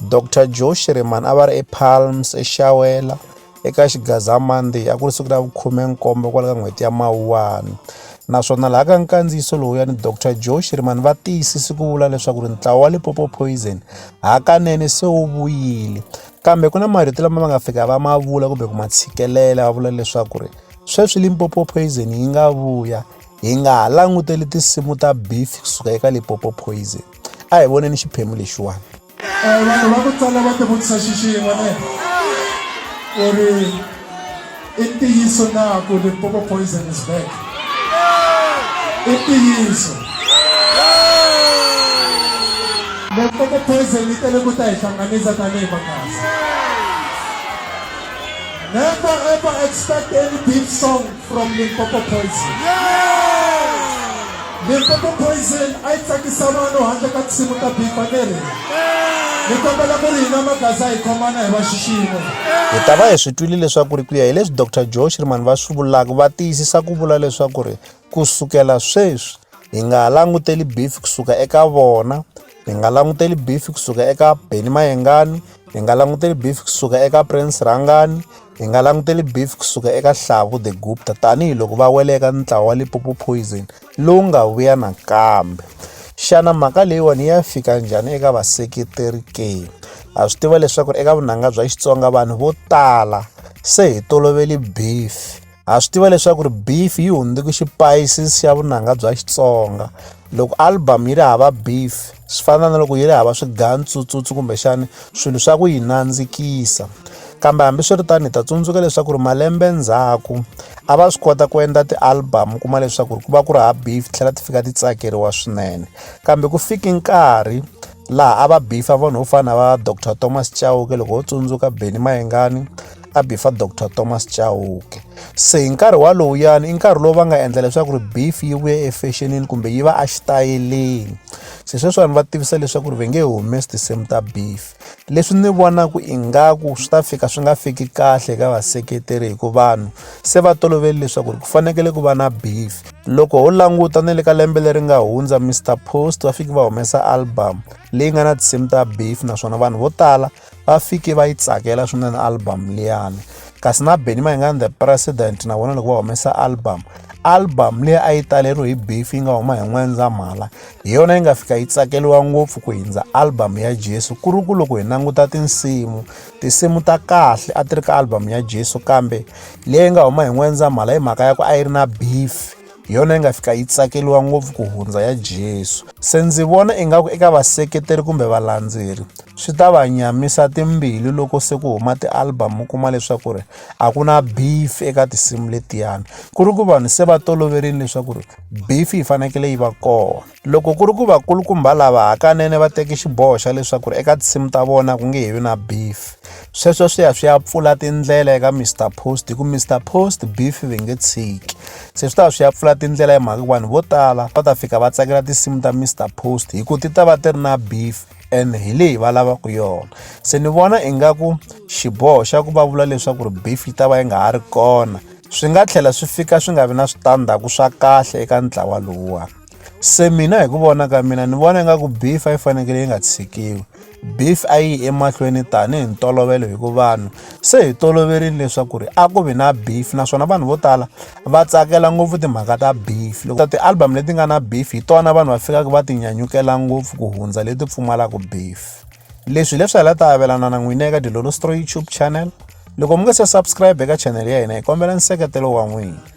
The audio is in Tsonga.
Doctor Joe Shirimani a va ri ePalms eXawela eka Xigaza Monday a ku ri siku ra vukhume-nkombo kwala ka n'hweti ya Mawuwani naswona laha ka nkandziyiso lowuyani Doctor Joe Shirimani va tiyisisi ku vula leswaku ri ntlawa wa Lipopo Poison hakanene se wu vuyile kambe ku na marito lama va nga fika va ma vula kumbe ku ma tshikelela va vula leswaku ri sweswi Limpopo Poison yi nga vuya hi nga ha languteli tinsimu ta beef kusuka eka Limpopo Poison a hi voneni xiphemu lexiwani eh, vanhu va ku tala va tivutisa xixin'we ne ku ri i ntiyiso na ku limpopo poison is back i ntiyiso limpopo poison yi tele ku ta hi hlanganisa tanihi makasi never ever expect any big song from Limpopo Poison. Limpopo Poison a yi tsakisa vanhu handle ka tinsimu ta bifa leri ni kombela ku ri hina magaza hi khomana hi va xiximo hi ta va hi swi twile leswaku ri ku ya hi leswi dr joe shirman va swi vulaka va tiyisisa ku vula leswaku ri ku sukela sweswi hi nga ha languteli beef kusuka eka vona Hi nga languteli beef kusuka eka Benny Mayengani, hi nga languteli beef kusuka eka Prince Rhangani, hi nga languteli beef kusuka eka Hlavu the Gupta tanihiloko va wele eka ntlawa wa Limpopo Poison lowu nga vuya nakambe. Xana mhaka leyiwani ya fika njhani eka vaseketeri ke? Ha swi tiva leswaku eka vunanga bya Xitsonga vanhu vo tala se hi toloveli beef. ha swi tiva leswaku ri beef yi hundzuke xipayisisi xa vunanga bya xitsonga loko album yi ri hava beef swi fana na loko yi ri hava swigantsutsutswi kumbexani swilo swa ku yi nandzikisa kambe hambiswiritano hi ta tsundzuka leswaku ri malembe ndzhaku a va swi kota ku endla ti-album kuma leswaku ri ku va ku ri ha beef tlhela ti fika ti tsakeriwa swinene kambe ku fiki nkarhi laha a va bifa vanhu vo fana va dr thomas chauke loko ho tsundzuka beni mayengani a bifa dr thomas chauke se hi nkarhi walowuyani i nkarhi lowu va nga endla leswaku ri beef yi vuya efexenini kumbe yi va exitayeleni se sweswiwani va tivisa leswaku ri va nge humesi tinsimu ta beef leswi ni vonaku ingaku swi ta fika swi nga fiki kahle ka vaseketeri hi ku vanhu se va toloveli leswaku ri ku fanekele ku va na beef loko ho languta ni le ka lembe leri nga hundza mr post va fiki va humesa album leyi nga na tinsimu ta beef naswona vanhu vo tala va fike va yi tsakela swinene album liyani kasi na benny mayengani the president na vona loko va humesa album album leyi a yi taleriwe hi beef yi nga huma hi n'wendzamhala hi yona yi nga fika yi tsakeriwa ngopfu ku hindza album ya jesu ku ri ku loko hi languta tinsimu tinsimu ta kahle a ti ri ka album ya jesu kambe leyi nga huma hi n'wendzamhala hi mhaka ya ku a yi ri na beef hi yona yi nga fika yi tsakeliwa ngopfu ku hundza ya Jesu. Se ndzi vona ingaku eka vaseketeri kumbe valandzeri swi ta va nyamisa timbilu loko se ku huma ti-album u kuma leswaku ri a ku na beef eka tinsimu letiyani ku ri ku vanhu se va toloverile leswaku ri beef yi fanekele yi va kona. Loko ku ri ku vakulukumba lava hakanene va teke xiboho xa leswaku eka tinsimu ta vona ku nge he vi na beef, sweswo swi ya swi ya pfula tindlela eka Mister Post hikuva Mister Post beef va nge tshiki. Se swi ta va swi ya pfula tindlela hi mhaka ku vanhu vo tala va ta fika va tsakela tinsimu ta Mister Post hikuva ti ta va ti ri na beef and hi leyi va lavaka yona. Se ni vona ingaku xiboho xa ku va vula leswaku ri beef yi ta va yi nga ha ri kona swi nga tlhela swi fika swi nga vi na switandzhaku swa kahle eka ntlawa lowuwani. se mina hi ku vona ka mina ni vona ingaku beef a yi fanekele yi nga tshikiwi beef a yi emahlweni tanihi ntolovelo hi ku vanhu se hi toloverile leswaku ri a ku vi na beef naswona vanhu vo tala va tsakela ngopfu timhaka ta beef loko ti-album leti nga na beef hi tona vanhu va fikaka va ti nyanyukela ngopfu ku hundza leti pfumalaka beef leswi leswi hala ta avelana na n'wina eka dilolo stro youtube channel loko mi nga se subscribe eka channel ya hina hi kombela nseketelo wa n'wina